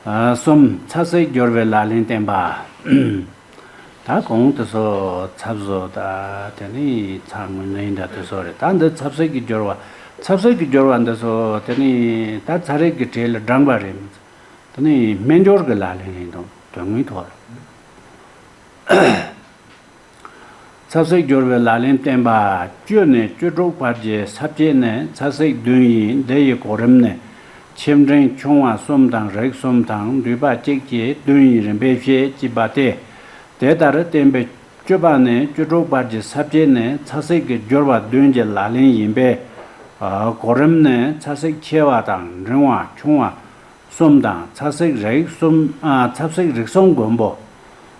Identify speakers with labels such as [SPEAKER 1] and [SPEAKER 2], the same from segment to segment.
[SPEAKER 1] གསུམ། ཚ་ཟེར་སྦྱོར་བའི་ལག་ལེན་བསྟན་པ། ད་གོང་དུ་སོ་ཚབ་བཟོ་དང་དེ་ནི་ཚ་སྔོན་ལན་འདྲ་དུ་སོ་རེད་ད་འདི་ཚབ་ཟེར་གྱི་སྦྱོར་བ་ཚབ་ཟེར་གྱི་སྦྱོར་བ་འདི་སོ་དེ་ནི་ད་ཚ་རེག་གི་གྲས་ལ་བགྲངས་པ་རེད་མི་འཚལ་དེ་ནི་སྨན་སྦྱོར་གྱི་ལག་ལེན་རེད་འདུག་དོན་དངོས་ཐོག་ལ། ཚ་བསྲེགས་སྦྱོར་བའི་ལག་ལེན་བསྟན་པ། བཅོས་ནས་བཅོས་དྲུག་བར་གྱི་ཚབ་བྱེད་ནས་ཚ་བསྲེགས་བདུན་ཡིན་འདི་ཡི་གོ་རིམ་ནི། ཕྱིར་འབྲིང་ཆུང་བ་གསུམ་དང་རེག་གསུམ་དང་འདུས་པ་གཅིག་བཅས་བདུན་ཡིན་རིམ་པས་བཤད་ཅེས་པ་སྟེ། དེ་ལྟར་བསྟན་པའི། བཅོས་པ་ནས་བཅོས་དྲུག་བར་གྱི་ཚབ་བྱེད་ནས་ཚ་བསྲེགས་ཀྱི་སྦྱོར་བ་བདུན་གྱི་ལག་ལེན་ཡིན་པས། གོ་རིམ་ནི་ཚ་བསྲེགས་ཆེ་བ་དང་འབྲིང་བ་ཆུང་བ་གསུམ་དང་ཚ་བསྲེགས་རེག་གསུམ། ཚ་བསྲེགས་རིགས་གསུམ་མགོན་པོ།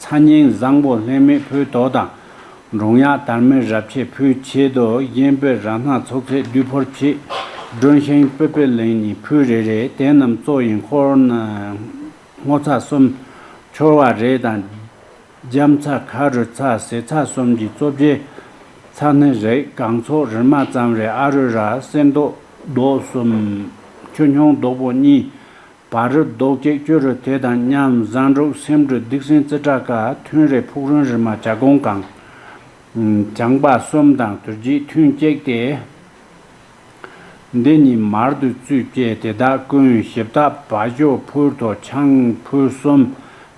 [SPEAKER 1] ཚ་སྙིང་བཟང་པོ་ལྷད་མེད་ཕུའི་ཏོག་དང། འབྲོང་གཡག་དར་མའི་རབས་ཆད་ཕུའི་ཕྱེད་དོ། གཡན་པོད་ར་སྣ་ཚོགས་ཚད་བདུད་ཕོར་ཕྱེད། སྒྲོན་ཤིང་སྤོས་པད་ལེང་གཉིས་ཕུའི་རེ་རེ། དེ་རྣམས་གཙོ་ཡིན་འཁོར། སྔོ་ཚ་གསུམ། འཁྱོར་བ་རེ་དང། རྒྱམ་ཚ་ཁ་རུ་ཚ་ཟེ་ཚ་གསུམ་གྱི་གཙོ་བྱས། ཚ་སྣེ་རེག་སྒང་ཚོགས་རིལ་མ་ཙམ་རེ་ཨ་རུ་ར་གསེར་མདོག་མདོག་གསུམ། ཆུ་སྙོང་མདོག་པོ་གཉིས། བར་རི་རྡོག་སྐྱེས་སྐྱོ་རུ་དེ་དང་མཉམ་བཟང་སྒྲུབ་སེམས་དྲོད་སྡིག་སྲིན་རྩེ་ཁྲག་ཁ་ཐུན་རས་ཕུག་རོན་རི་མ་བྱ་སྒོང་གང། བྱང་འབག་གསུམ་དང་དུར་བརྒྱད་ཐུན་བསྐྱེད་དེ། འདི་ཉིད་མར་དུ་བཙུད་བསྐྱེད་དེ་དག་ཀུན་ཞིབ་བཏགས་བ་ཞོ་ཕུར་ཐོག་ཆང་ཕུར་གསུམ་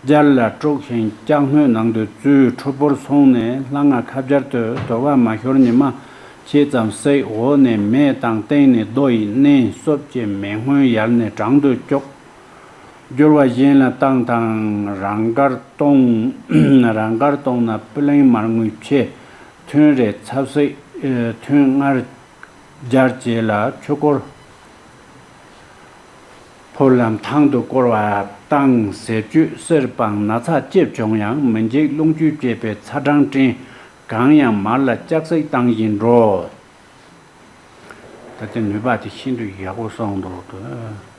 [SPEAKER 1] སྦྱར་ལ་དཀྲུགས་ཤིང་སྐྱག་སྣོད་ནང་དུ་བཙུད་ཁྲོ་ཕོར་སོང་ནས་ལྷ་སྔགས་ཁ་སྦྱར་དུ་དོར་བ་མ་ཤོར་ཉི་མ་ཅེས་ཙམ་བསྲེགས་འོག་ནས་མེ་དང་སྟེང་ནས་རྡོ་ཡི་སྣེ་གསོབ་ཅེས་མེ་སྔོན་ཡར་ནས་བྲང་དུ་སྐྱོག། སྒྱུར་བ་གཞན་ལ་བཏང་དང་རང་དགར་གཏོང། རང་དགར་གཏོང་ན་སྤུ་ལེང་མར་ངུས་ཆེ། ཐུན་རེ་ཚ་བསྲེགས་ཐུན་སྔར་སྦྱར་བྱས་ལ་ཆུ་བསྐོར། ཕུར་ལམ་ཐང་དུ་བསྐོར་བ་བཏང་ཟས་བཅུད་གསེར་སྤང་ན་ཚ་སྐྱེད་བྱུང་ཡང་མི་འཇིགས་རླུང་བཅུད་བསྐྱེད་པའི་ཚ་གྲང་སྐྲན། གང་ཡང་མར་ལ་ལྕགས་སྲེག་བཏང་བཞིན་འགྲོ། ད་ལྟའི་ནུས་པ་དེ་ཤིན་ཏུ་ཡག་པོ་སོང་འདུག་ལྟོས།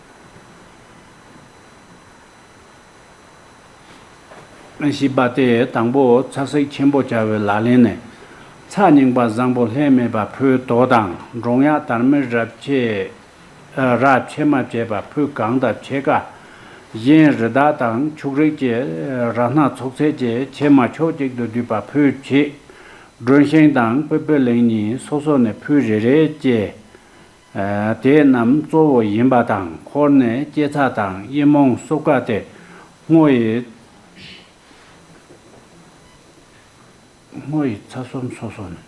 [SPEAKER 1] ཞེས་པ་སྟེ་དང་པོ་ཚགས་སྲེག་ཆེན་པོ་བྱ་བའི་ལག་ལེན་ནི། ཚགས་རྙིང་པ་བཟང་པོ་ལྷད་མེད་པ་ཕུའི་དོ་དང་འབྲོང་གཡག་དར་མའི་རབས་ཆད། ར་ཕྱེ་མ་བཅས་པ་ཕུད་གང་དང་ཕྱེད་ཀ། གཞན་རི་དྭགས་དང་ཕྱུགས་རིགས་བཅས་ར་སྣ་ཚོགས་ཚད་བཅས་ཕྱེ་མ་ཕྱོགས་གཅིག་ཏུ་བསྡུས་པ་ཕུད་ཕྱེད། སྒྲོན་ཤིང་དང་སྤོས་སྤོས་ལེགས་གཉིས་སོ་སོ་ནས་ཕུད་རེ་རེ་བཅས། དེ་རྣམས་གཙོ་བོ་ཡིན་པ་དང་འཁོར་ནས་སྐྱེ་ཚ་དང་དབྱི་མོང་སོགས་ཀ་སྟེ་སྔོ་ཡི། སྔོ་ཡི་ཚ་གསུམ་སོ་སོ་ནས།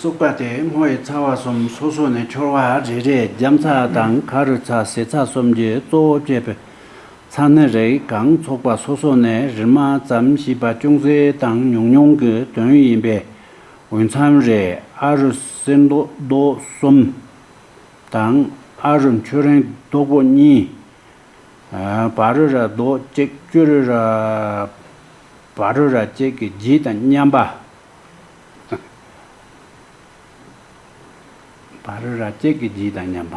[SPEAKER 1] སུག་པ་དེ་སྔོ་ཡི་ཚ་བ་གསུམ་སོ་སོ་ནས་འཁྱོར་བ་རེ་རེས་རྒྱམ་ཚ་དང་ཁ་རུ་ཚ་ཟེ་ཚ་གསུམ་གྱི་གཙོ་བོ་བསྐྱེད་པས། ཚ་ནི་རེག་གང་ཚོགས་པ་སོ་སོ་ནས་རིལ་མ་ཙམ་ཞེས་པ་ཅུང་ཟད་དང་ཉུང་ཉུང་གི་དོན་ཡིན་པས། འོས་འཚམས་རེ་ཨ་རུ་གསེར་མདོག་རྡོ་གསུམ་དང་ཨ་རུ་མཆོད་རེངས་རྡོ་པོ་གཉིས། བ་རུ་ར་རྡོ་གཅིག་སྐྱུ་རུ་ར། བ་རུ་ར་གཅིག་གི་རྗེས་དང་མཉམ་པ། བ་རུ་ར་གཅིག་གི་རྗེས་དང་མཉམ་པ།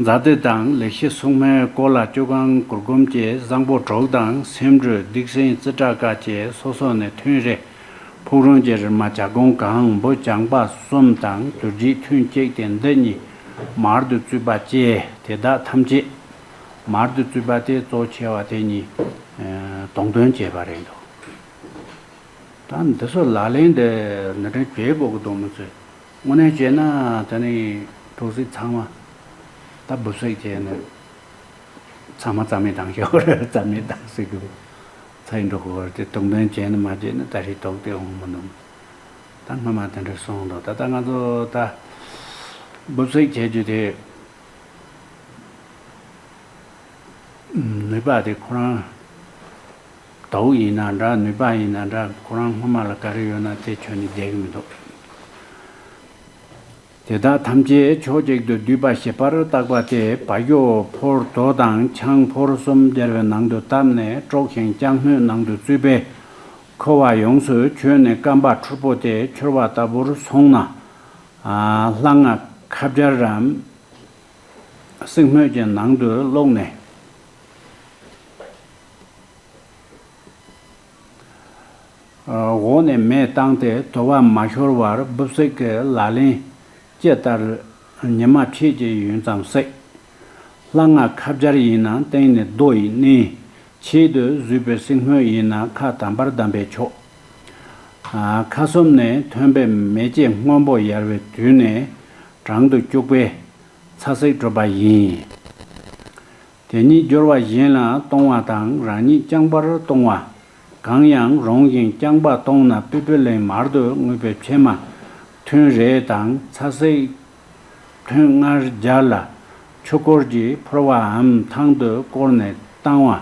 [SPEAKER 1] མཛའ་བརྩེ་དང་ལེགས་བཤད་སྲུང་མའི་སྐོར་ལ་སྤྱོད་ཁང་གུར་སྒོམ་བཅས་བཟང་པོ་གྲོགས་དང་སེམས་དྲོད་སྡིག་སེམས་བརྩེ་དགྲ་དགའ་བཅས་སོ་སོ་ནས་ཐུན་རེ། ཕུག་རོན་གྱི་རི་མ་བྱ་སྒོང་གང་འབུ་རྐྱང་པ་གསུམ་དང་དུར་བྱིད་ཐུན་བཅས་ཏེ་འདི་གཉིས་མར་དུ་བཙུད་པ་བཅས་དེ་དག་ཐམས་ཅད། མར་དུ་བཙུད་པ་དེ་གཙོ་ཆེ་བ་དེ་གཉིས་དོང་སྟོན་བྱས་པ་རེད་འདུག་ད་འདི་ཚོ་ལག་ལེན་དུ་ནི་དྲན་བྱེད་སྒོ་གི་སྡོང་མོ་ཚོས། དངོས་གནས་བྱས་ན་དེ་ནི་གྲོ་བསྲེགས་ཚང་མ་ད་འབུ་བསྲེགས་བྱས་ནས་ཚང་མ་རྩ་མེད་བཏང་ཞོར་རྩ་མེད་བཏང་སྲིད་དགོས་ཚེ་འགྲོ་གི་བར་དེ་དོགས་འདོན་བྱས་ནས་མ་བྱས་ན་ད་རེས་དོགས་དེ་འོང་མི་འདུག་ད་སྔོན་མ་དེ་འདྲ་སོང་དང་ད་ལྟ་ང་ཚོ་ད་འབུ་བསྲེགས་བྱེད་རྒྱུ་དེ་ནུས་པ་དེ་ཁོ་རང་དྭོགས་ཡིན་ན་འདྲ་ནུས་པ་ཡིན་ན་འདྲ་ཁོ་རང་སྔོན་མ་ལ་ག་རེ་ཡོད་ན་དེ་ཁྱོན་ནས་བསྡད་ཀྱི་མི་འདུག་དེ་དག་ཐམས་ཅད་ཕྱོགས་གཅིག་ཏུ་བསྡུས་པ་ཞིབ་པར་བཏགས་པ་དེ་བ་གོ་ཕོར་དོ་དང་ཆང་ཕོར་གསུམ་སྦྱར་བའི་ནང་དུ་བཏབ་ནས་དཀྲོགས་ཤིང་ལྕགས་སྣོད་ནང་དུ་བཙུད་པས་ཁོ་བ་ཡོངས་སུ་གྱོན་ནས་སྐམ་པ་འཁྲུར་པོ་དེ་འཁྱོར་བ་ལྟ་བུར་སོང་ན། ལྷ་སྔགས་ཁ་སྦྱར་རམ། བསྲེག་སྣོད་ཀྱི་ནང་དུ་བསློགས་ནས། འོག་ནས་མས་བཏང་སྟེ་དོར་བ་མ་ཤོར་བར་སྦུབ་བསྲེགས་ཀྱི་ལག་ལེན། ཅེས་ལྟར། ཉི་མ་ཕྱེད་ཀྱི་ཡུན་ཙམ་བསྲེག། ལྷ་སྔགས་ཁ་སྦྱར་ཡིན་ན་སྟེང་ནས་རྡོ་ཡིས་མནན། ཆེད་དུ་བཟོས་པའི་བསྲེག་སྔོན་ཡིན་ན་ཁ་དམ་པར་བསྡམས་པས་ཆོག། ཁ་གསུམ་ནས་ཐོན་པའི་མེ་ལྕེ་སྔོན་པོ་ཡལ་བའི་དུས་ནས་བྲང་དུ་སྐྱུགས་པས་ཚ་བསྲེག་གྲུབ་པ་ཡིན། དེ་ཉིད་སྦྱོར་བ་གཞན་ལ་གཏོང་བ་དང་རང་ཉིད་རྐྱང་པར་གཏོང་བ། གང་ཡང་རུང་བཞིན་རྐྱང་པ་གཏོང་ན་པི་པི་ལིང་མར་དུ་དངོས་པོའི་ཕྱེ་མ། ཐུན་རེ་དང་ཚ་བསྲེག། ཐུན་ལྔར་སྦྱར་ལ། ཆུ་སྐོར་གྱིས་ཕོར་བའམ་ཐང་དུ་བསྐོར་ནས་བཏང་བ།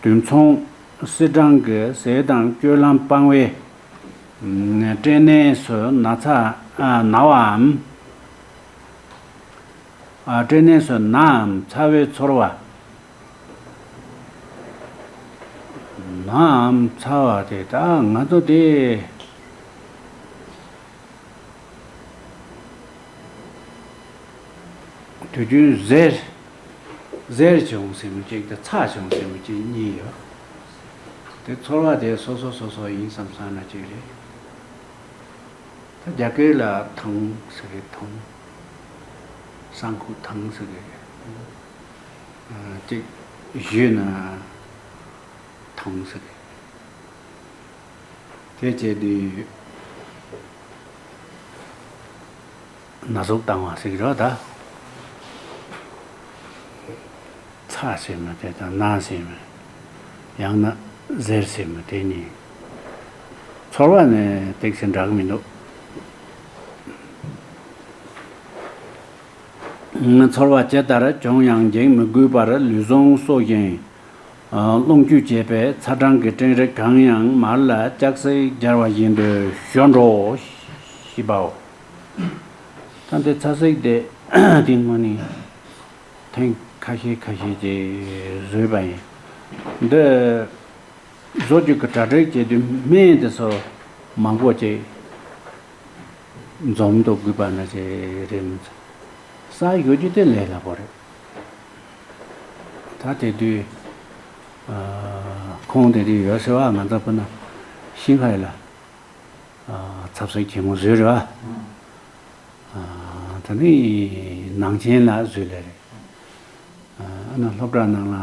[SPEAKER 1] དུས་མཚུངས། བསིལ་སྦྲང་གི་ཟས་དང་སྤྱོད་ལམ་སྤང་བའི། སྐྲན་ནད་སུ་ན་ཚ་ན་བའམ། སྐྲའི་གནས་སུ་ནའམ་ཚ་བའི་ཚོར་བ། ནའམ་ཚ་བ་དེ་དག་ང་ཚོ་སྟེ། དུས་རྒྱུན་གཟེར་བྱུང་ཟེར་མི་གཅིག་དང་ཚགས་བྱུང་ཟེར་མི་གཅིག་གཉིས་ཡོད། དེ་ཚོར་བ་དེ་སོ་སོ་སོ་སོ་ཡིན་བསམ་བསམ་ན་གཅིག་རེད། རྒྱ་སྐད་ལ་ཐང་ཟེར་རེད་ཐང། ས་འཁོར་དང་ཟེར་བའི་སྐད། བཞུད་ན་དང་ཟེར་བའི་སྐད། དེ་བྱས་དུས་ན་ཟུག་བཏང་བ་ཟེར་གི་རོ་ད། ཚ་ཟེར་མོད་དེ་དང་ན་ཟེར་མོད་ཡང་ན་གཟེར་ཟེར་མོད་དེ་གཉིས། ཚོར་བ་ནི་སྟེགས་སུ་འདྲ་གི་མི་འདུག། ཚོར་བ་ཇི་ལྟར་བྱུང་ཡང་འགྱིང་མི་དགོས་པར་ལུས་ཟུངས་གསོ་ཞིང། རླུང་བཅུད་བྱེད་པས་ཚ་གྲང་གི་སྤྲིན་རིགས་གང་ཡང་མར་ལ་ལྕགས་སྲེག་སྦྱར་བ་བཞིན་དུ་ཞོ་འགྲོ་ཞེས་པའོ། ད་ལྟའི་ཚ་སྲེག་དེ་དེ་སྔོན་ནས་ཐེངས་ཁ་ཤས་ཁ་ཤས་ཀྱིས་བཟོས་པ་ཡིན། འདི། བཟོ་བཅོས་ཀྱི་དྲ་སྦྲེལ་བྱས་དུས་སྨན་དེ་ཚོ་མང་པོ་ཅིག་འཛོམས་འདུག་གུས་པ་ན་ཆེ་རེད་མི་ཚེ་གསར་ཞུ་རྒྱུ་དེ་ལས་སླ་པོ་རེད། ད་དེ་དུས་ཁོང་དེ་དུས་ཡོད་ཟེར་བ་ང་ལྟ་བུ་ན་ཤིན་ཧའེ་ལ་ཚབ་སེ་གྱེས་མོ་བཟོས་རེད་བ། ད་ནི་ནང་ཆེན་ལ་བཟོས་ལེ་རེད། ཨ་ན་སློབ་གྲྭ་ནང་ལ་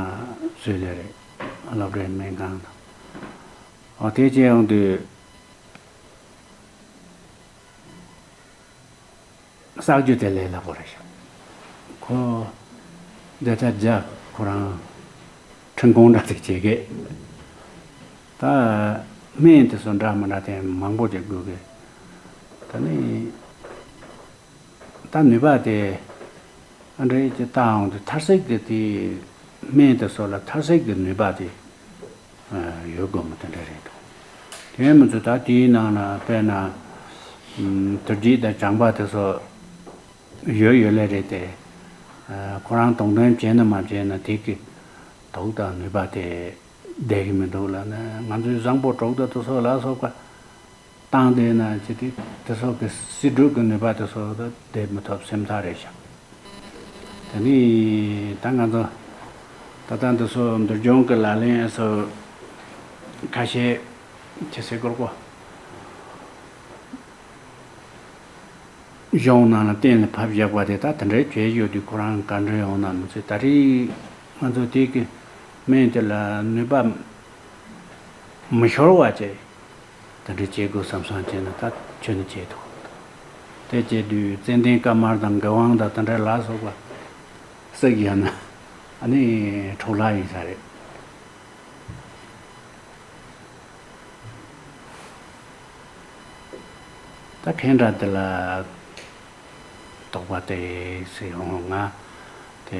[SPEAKER 1] བཟོས་ལེ་རེད། སློབ་གྲྭའི་སྨན་ཁང་དང། ཨོ་དེ་བཅས་ཡོང་དུས། གསག་རྒྱུ་དེ་ལས་སླ་པོ་རེད་བྱུང། ཁོ། འདི་ལྟར་རྒྱ་ཁོ་རང། ཁྲིམས་དཔུང་འདྲ་དེ་བྱེད་སྐད། ད། སྨན་དེ་ཚོ་འདྲ་མི་འདྲ་དེ་མང་པོ་ཅིག་དགོས་གི། ད་ནི། ད་ནུས་པ་དེ་ཨ་འགྲེ་ཀྱི་རྟགས་འོང་དུས་ཐར་ཟེགས་ཀྱི་དེའི་སྨན་དེ་སོགས་ལ་ཐར་ཟེགས་ཀྱི་ནུས་པ་དེ་ཡོད་དགོས་མོད་དེ་འདྲ་རེད་འདུག་དེའི་མི་ཚོས་ད་དེའི་ནང་ལ་དཔེར་ན་དུར་རྒྱུད་དང་བྱང་པ་དེ་སོགས་ཡོད་ཡོད་ལེ་རེད་དེ། ཁོ་རང་དོགས་འདོན་བྱས་ནི་མ་བྱས་ནི་དེ་གི་དོགས་དང་ནུས་པ་དེ་ལྡད་གི་མི་འདུག་ལ་ནི་ང་ཚོའི་བཟང་པོ་གྲོགས་དེ་ཚོ་སོགས་ལ་སོགས་པ་བཏང་དེ་ན་ཅི་སྟེ་དེ་སོགས་ཀྱི་སྲིད་སྒྲུབ་ཀྱི་ནུས་པ་དེ་སོགས་ལ་དེ་མི་ཐོབ་སེམས་ཐག་རེ་བཞག་དེ་ནས་ད་ང་ཚོ་ད་ལྟ་འདི་སོགས་འདུལ་སྦྱོང་གི་ལག་ལེན་སོགས་ཁ་ཤས་ཁྱེད་སེ་གོར་གོ། གཞུང་ནང་ལ་གཏན་ལ་ཕབ་བཞག་པ་དེ་དག་དེ་འདྲའི་གྱོད་གཞི་ཡོད་དུས་ཁོ་རང་ག་འདྲ་ཡོང་ན་མི་ཚེ་ད་རེས་ང་ཚོ་དེ་གི་སྨན་དེ་ལ་ནུས་པ་མི་ཤོར་བ་བྱས། དེ་འདྲ་བྱེད་དགོས་བསམ་བསམ་བྱས་ན་ད་ཁྱོད་ནི་བྱེད་ཐུབ་གི་འདུག་དེ་བྱས་དུས་ཙན་དན་དཀར་དམར་དང་མགལ་དབང་དང་དེ་འདྲ་ལ་སོགས་པ་བསྲེགས་ཡོད་ན་ཨ་ནི་འཕྲོག་ལ་ཡིན་ས་རེད། ད་ཁྱེད་འདྲ་དེ་ལ་དོགས་པ་དེ་སེ་ཧོང་ང་དེ།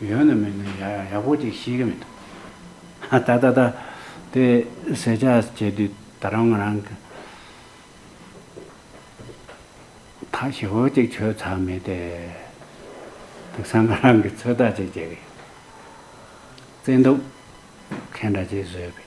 [SPEAKER 1] ཡོད་ནི་མིན་ནི་ཡག་ཡག་པོ་ཅིག་ཤེས་ཀྱི་མི་འདུག་ད་ལྟ། དེ་གསལ་ཆ་བྱེད་དུས་ད་རུང་ང་རང་གིས་ཐག་ཞི་བོ་ཅིག་ཆོད་ཚར་མེད་དེ། དེང་སང་ང་རང་གིས་ཚོད་ལྟ་ཅིག་བྱེད་ཀྱི་ཡོད། བཙན་དུག་ཁེངས་འདྲ་ཅིག་བཟོས་པས།